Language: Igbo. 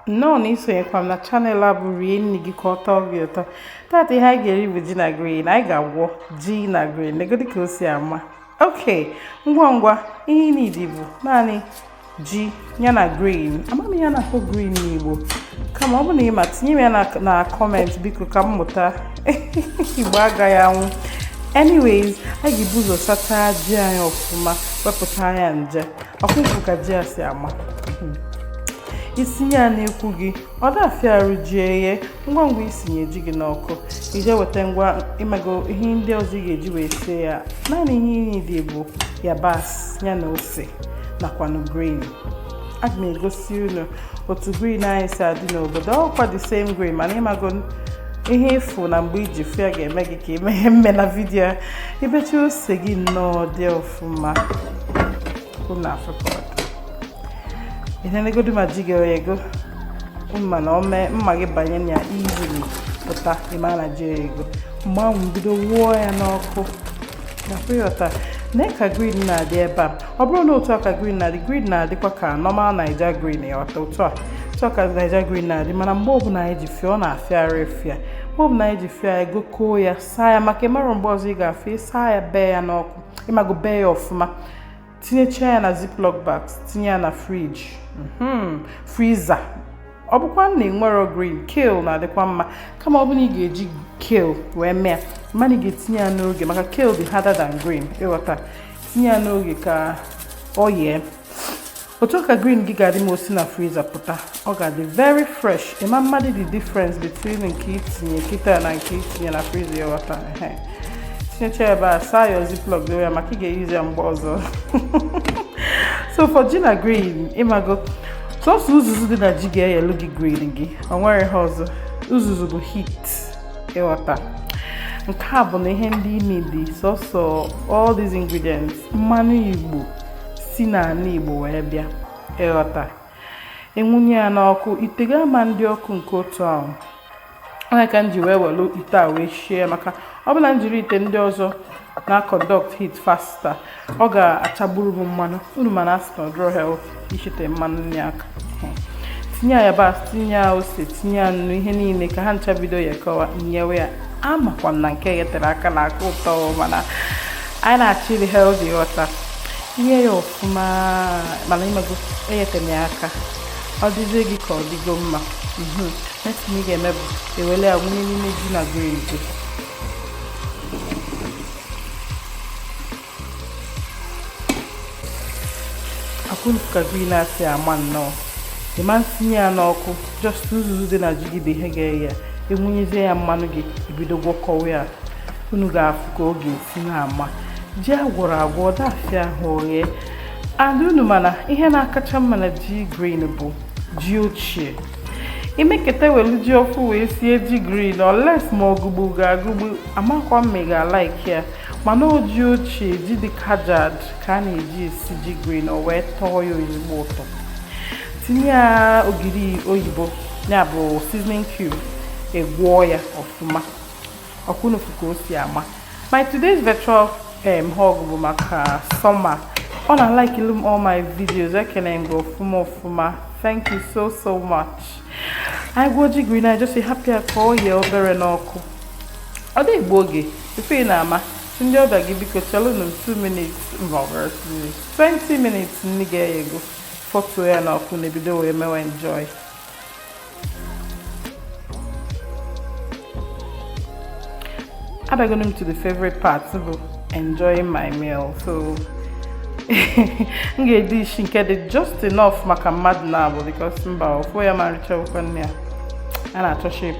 nnọọ na isonyekwa m na channel a bụ rie nri gị ka ọ tọọ gị ụtọ tata ihe anyị ga-eri bụ ji na green anyị ga-agwọ ji na green negodi ka o si amaka ngwa ngwa ihe ị nidi bụ naanị ji ya na green amaghị m ihe a na-akpọ green n'igbo kama ọ bụ na ị ma tinye m ya na comment biko ka m mụta igbo agaghị anwụ anyways anyị ga-ebu ụzọ sachaa ji anyị ọfụma wepụta ya nje ọkụkụ ka ji ya si ama hmm. i sinye ya n'ekwu gị ọ da afịa arụ ji eyee ngwa ngwa i sinye ji gị n'ọkụ i je weta ngwa ịmago ihe ndị ọzọ ị ga-eji wee sie ya naanị ihe ị nidi bụ yabasị ya na ose nakwanụ green aga m egosi unu otu green anyị si adị n'obodo ọkwa the same green mana ịmago ihe ị fụ na mgbe i ji fụ ya ga-eme gị ka ị mee mme na video i becha ose gị nnọọ dị ọfụma unu afụgo ihe negodu ma ji gị o yego mma na ome mma gị banye na ya easily pụta ị ma na ji o yego mgbe ahụ bido wuo ya n'ọkụ gafụ ya ọta na ka green na-adị ebe a ọ bụrụ na otu a ka green na-adị green na-adịkwa ka normal naija green ịghọta otu a otu a ka naija green na-adị mana mgbe ọbụla anyị ji fụ ya ọ na-afịa arụ ịfụ ya mgbe ọbụla anyị ji fụ ya gokoo ya saa ya maka ị marọ mgbe ọzọ ị ga-afụ ya ị saa ya bee ya n'ọkụ ịmago bee ya ọfụma tinyecha ya na ziplock bags tinye ya na fridge mhm, freezer ọ bụkwa na enwerọ green kale na-adịkwa mma kama ọ bụ na ị ga-eji kale wee mee mana ị ga-etinye ya n'oge maka kale dị harder than green ịghọta tinye ya n'oge ka o yee otu a ka green gị ga-adị ma o si na freezer pụta ọ ga-adị very fresh ị ma amadị the difference between nke i tinye kịta na nke i tinye na freezer ịghọta tinyecha ebe a saa your ziplock ya maka ị ga-eyuzi ya mgbe ọzọ so for ji na green ịmago sọsọ uzuzu dị na ji ga-eyelu gị green gị o nwerọ ihe ọzọ uzuzu bụ heat ịghọta nke a bụ na ihe ndị ị nidi sọsọ all these ingredients mmanụ igbo si n'anị Igbo wee bịa ịghọta e wunye ya n'ọkụ ite gị ama adị ọkụ nke otu ahụ ọ ya ka m ji wee welu ite a wee shie maka ọ bụ na m jiri ite ndị ọzọ na conduct heat faster ọ ga-achagburu m mmanụ unu ma na a sị na ọ dịrọ healthy ishite mmanụ nri aka tinye ya yabasị tinye ya ose tinye ya nnu ihe niile ka ha ncha bido ya kọwa nyewe ya amakwa m na nke e yetere aka na-aka ụtọ mana anyị na-achọ iri healthy ịghọta yee ya ọfụma mana ịmago eyetena ya aka ọ dịzie gị ka ọ dịgo mma mhm. next ị ga-eme bụ iwele ya wunye n'ime ji na goro ọkwa unu fụ ka green si ama nnọọ ịma ntinye ya n'ọkụ just uzuzu dị na ji gị bụ ihe ga-eye ya e wunyezie ya mmanụ gị ebido gwọkọwa ya unu ga-afụ ka ọ ga-esi na-ama ji agwọrọ agwọ ọ dafịa ahụ oghe adị unu mana ihe na-akacha mma na ji green bụ ji ochie i meketa welu ji ọfụụ wee sie ji green unless ma ọ gụgbu gị agụgbu amakwa m ma ị ga-alaiki ya mana ọ ji ochie ji dị kajad ka a na-eji esi ji green o wee tọọ ya ezigbo ụtọ tinye ya ogiri oyibo ya bụ seasoning cube ị gwọọ ya ọfụma ọkwa unu fụ ka o si ama my today's virtual um, hug bụ maka Soma ọ na-alikelụ m all my videos ekele m gị ọfụma ọfụma thank you so so much anyị gwọọ ji green anyị just hapụ ya ka ọ yie obere n'ọkụ ọ dị egbu oge Tupu ị na-ama, sị ndị ọbịa gị biko chelụnụ m 2 minutes maọbụ 20 minutes nri gị eghego fọtuo ya n'ọkụ na-ebido wee mewe enjoy abịagonu m to the favorite part bụ enjoying my meal so m ga-edishi nke dị just enough maka mmadụ naabọ because mba ofu ya ma nricha okwe nne ya a na-achọ shape